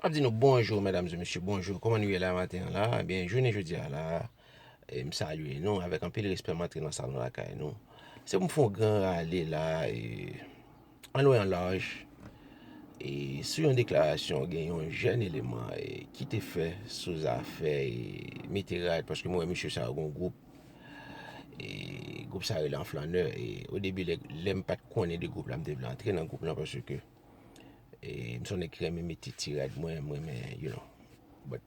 Map di nou bonjou medam e mesye bonjou kòman nou ye la maten an la ebyen jounen jodi a la m salye nou avèk anpil respè m antre nan salon lakay nou se pou m fè yon gran rale la an lwen an laj e sou yon deklarasyon gen yon jèn eleman ki te fè sou zafè mete rad paske m wè mesye sa yo gen yon gwoup gwoup sa rele an flannè e o debi lè m pat konnen de gwoup la m te vle antre nan gwoup la paske M son nèg ki renmen mete ti rad mwen, m renmen, you know. But,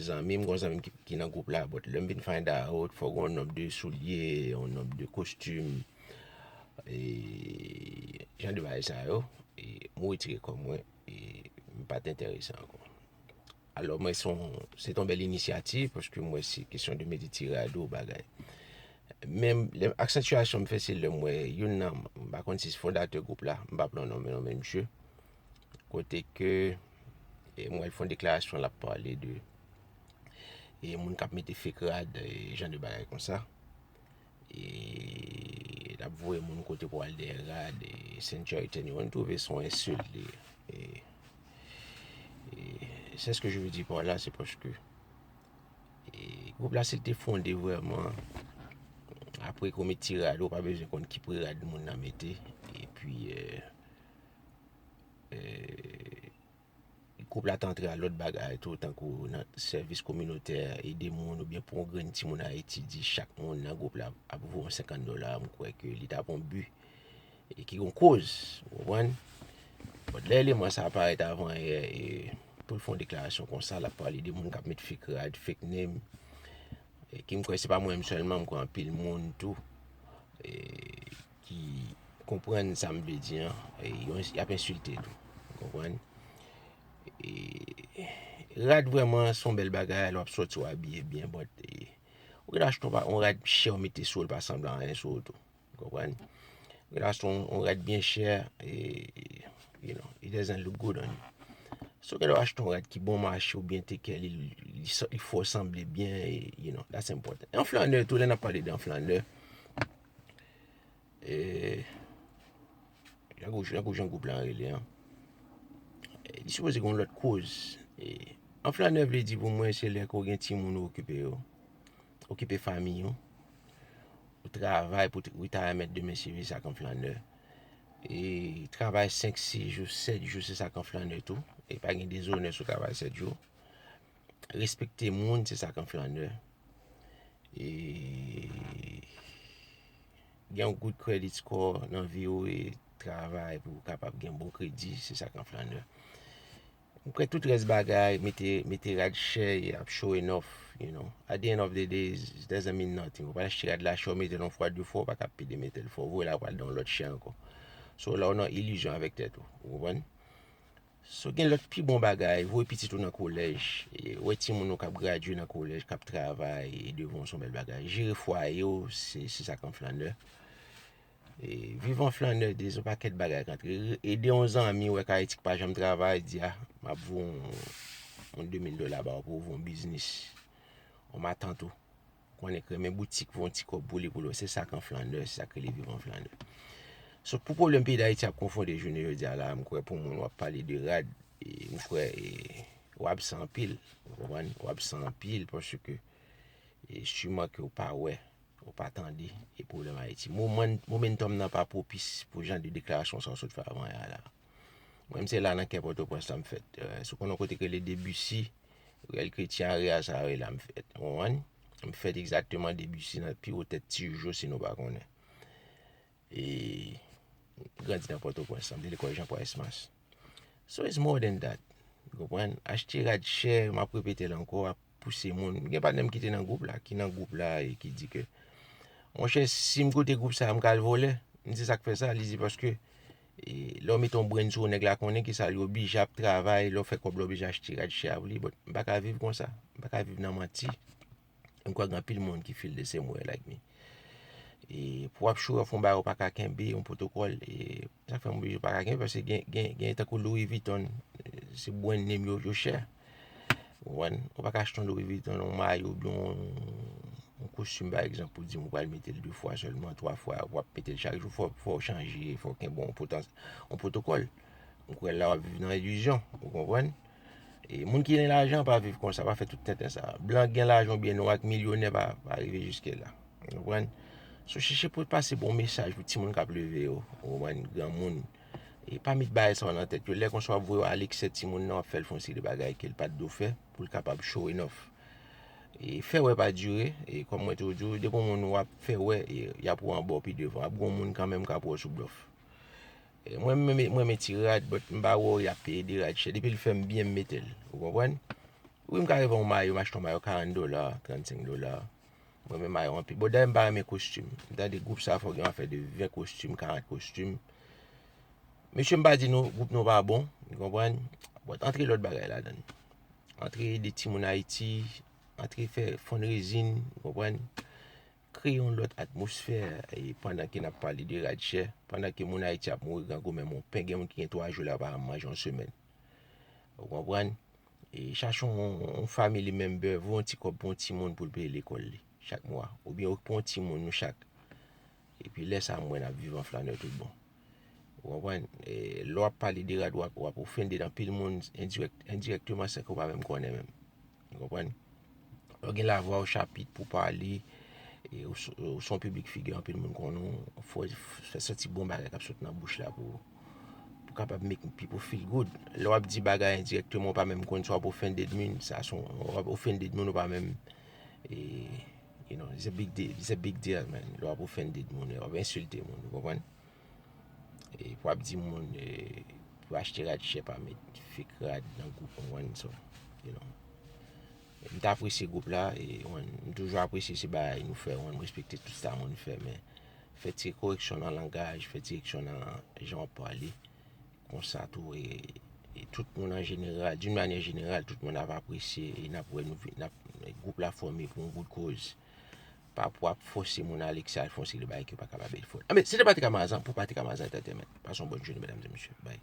zanmi m, m gon zanmi m ki nan gwoup la, but lè m vin find out, fò gen yon nonb de soulye, yon nonb de kostim, e, jan de bagay sa yo, e, m wetire kò mwen, e, m pa t enterese ankò. Alò mwen son, se ton bèl inisyativ, paske m wè se kesyon de mete ti rad ou bagay. Men, aksantyasyon m fè se lè m wè youn nan, m pa konn si se fondatè gwoup la, m pa pran non men non men msye, kote ke e m wè l fè yon deklarasyon l ap pale de e moun k ap mete fek rad, e jan de bagay konsa. E lap voye moun kote pou al dèyè rad e sentya ete ni mwen twouve son ensil li e se ske je ve di pa la se paske e gwoup la se te fonde vreman apre kou met ti rad ou pa bezwen konn ki pri rad moun nan mete e pi e e Gwoup la te antre a lòt bagay tou, tankou nan sèvis kominotè, ede moun oubyen pou yon grenn timoun Ayiti, di chak moun nan gwoup la ap voye yon 50 dola, m kwè ke li ta pou yon bi e ki yon koz, ou konprann. Bon, lè eleman sa a parèt avan yè e pou l fè yon deklarasyon konsa, l ap pale de moun k ap met fake rad, fake name, e ki m kwè se pa mwen menm sèlman, m kwè anpil moun tou. ki konprann sa m vle di an, y ap ensilte tou. Ou konprann? Rad vrèman se yon bèl bagay, lè w ap soti w abiye byen, but ou gen dwa achte yon rad chè ou mete sou l pa sanble a anyen sou ou tou. Ou konprann? Ou gen dwa achte yon rad byen chè, you know, it doesn't look good on you. So ou gen dwa achte yon rad ki bon mache ou byen tekè li, li fè w sanble byen, you know, that's important. Yon flannè tou, lè n ap pale de yon flannè. Eee Jan kou jan kou jan kou plan rele an Li sou pose kon lòt kouz Eee An flanè vle di pou mwen se lè kou gen ti moun ou kipe yo Okipe fami yo Ou travay pou ou ta remèt de men sivi sa kon flanè Eee Travay 5, 6 jou, 7 jou se sa kon flanè tou E pa gen dezonè sou travay 7 jou Respekte moun se sa k an flannè. E gen yon good credit score nan vi ou e travay pou ou kapab gen bon kredi se sa k an flannè. Ou kwè tout rès bagay mete rad chè e ap show enough you know at the end of the day it doesn't mean nothing ou pa al achte rad la chè ou mete l yon fwa de fwa ou pa ka pede mete l fò ou voye l al pran l yon lòt chè ankò. So la ou nan ilizyon avèk tèt ou ou konprann. Si w gen lòt pi bon bagay, voye pitit ou nan kolèj, wè timoun ou k ap gradye nan kolèj, k ap travay devan w se yon bèl bagay. Jere fwaye w, se sa k yon flannè. E viv an flannè de son pakèt bagay k antre. Ede yon zanmi ou wè k Ayiti k pa janm travay, di a, m ap voye yon 2000 dola ba w pou w ouvri yon biznis. Yon matant ou. Konnen k renmen boutik pou yon ti kòb pou li pou lòt. Se sa k an flanè, se sa k rele viv an flanè. So pou pwoblèm peyi Dayiti ap konfonde jounen jodi a la a, m kwè pou moun w ap pale de rad, m kwè w absan anpil. Ou konprann? Ou absan anpil paske siman ke w pa wè, ou pa tande e pwoblèm Ayiti. Moman, momentum nan pa pwopis pou jan de deklarasyon sa w sot fè avan y a la a. Mwen m se la nan kè pòtoprens la m fèt. Si w konnen yon kote ki rele Debussy, riyèl kretyen an, riyèl sa a, e la m fèt. Ou konprann? M fèt egzakteman Debussy nan pi wo tèt ti jo si nou pa konnen. E m grandi nan pòtoprens la, m te lekòl Jean-Paul Exmas. So it's more than that. Ou konprann? Achte rad chè, m ap repete l ankò. pouse moun. Mwen gen patnèm ki te nan gwoup la, ki nan gwoup la e ki di ke Mon chè, si m koute gwoup sa a, m ka al vòlè. M di sa k fè sa, li di paske e lè w mete yon brenn sou w nèg la konnen ki sa l ye, oblije ap travay, lè w fè kòb la w oblije achte rad chè a pou li. Bòt m pa ka viv konsa, m pa ka viv nan manti. M kwè gen anpil moun ki feel the same way like me. E pou ap show off yon bagay ou pa ka kenbe, yon pwotokòl, e sa k fè mwen pa ka kenbe, paske gen tankou Louis Vuitton, se brand name yo, yo chè. Ou konprann? Ou pa ka achte yon Louis Vuitton, yon mayo, oubyen yon kostim pa egzanp pou di m ou pral mete l 2 fwa sèlman, 3 fwa, ou ap mete l chak jou, fò ou chanje, fò ou kenbe yon pwotokòl. Mwen kwè la w ap viv nan ilizyon, ou konprann? E moun ki gen lajan pa viv konsa, pa fè tout tenten sa. Blan gen lajan ou byen nwa ki milyonè pa rive jiske la. Ou konprann? So chèche pou pase bon mesaj pou timoun k ap leve yo. Ou konprann? Granmoun. E pa met bagay sa yo nan tèt yo. Lè konsa w ap voye yo a leksè timoun nan, w ap fè l fè yon seri de bagay ke l pa t dwe fè pou l kapab show enough. E fè wè pa dire. E kòm mwen toujou di yo, depi yon moun w ap fè wè, y ap wè w anba w pi devan. Ap gen yon moun kanmenm k ap wè w sou blòf. Mwen mwen renmen ti rad but m pa wè yap peye 2 rad chè depi l fèm byen m metel ou konprann wi m ka rive yon mayo m achte yon mayo 40 dola 35 dola m renmen mayo anpil bon dayè m pa renmen kostim m tande gwoup sa fò gen yon afè de 20 kostim 40 kostim mesye m pa di nou gwoup nou pa bon ou konprann but antre lòt bagay ladann antre ede timoun ayiti antre fè fundraising ou konprann Kreye yon lòt atmosfè pandan ke nap pale de rad chè, pandan ke moun Ayiti ap mouri grangou menm yon pen gen moun ki gen 3 jou la pa janm manje yon semèn. Ou konprann? E chache yon family member, voye yon ti kòb pou yon ti moun pou l peye lekòl li chak mwa. Oubyen okipe yon ti moun nou chak. Epi lè sa mwen ap viv an flanè tout bon. Ou konprann? Lè w ap pale de rad, w ap ofende anpil moun endirèkteman san ke w pa menm konnen menm. Ou konprann? Lè w gen lavwa w chapit pou w pale, ou se yon piblik figi anpil moun konnen w, fò w fè soti bon bagay k ap sot nan bouch la pou w kapab make pipol feel good. Lè w ap di bagay endirèkteman w pa menm konnen, sa w ap ofende moun, sa w ap ofende moun ou pa menm. You know, it's a big deal, it's a big deal man, lè wap offended moun, lè wap insulte moun, ou konprann? E pou wap di moun, pou achte rad chè pa met fek rad nan group ou konprann so, you know. M ta apresye group la, e ou konprann, m toujou apresye se bagay nou fè, ou konprann, m respekte tout sa moun fè men, fè ti koreksyon nan langaj, fè ti koreksyon nan jan wap pale, Konsa tou e tout moun an jeneral, d'une manyè jeneral, tout moun ap apresye e nap wè nou vin, nap, gwoup la fòme pou yon bout koz. Pa pou ap fòse moun ale ki sa al fè yon seri de bagay ke yo pa kapab e l fè. Anben, se te Patrick Amazan pou Patrick Amazan Entertainment. Pase yon bòn jounen medam e mesye. Bay.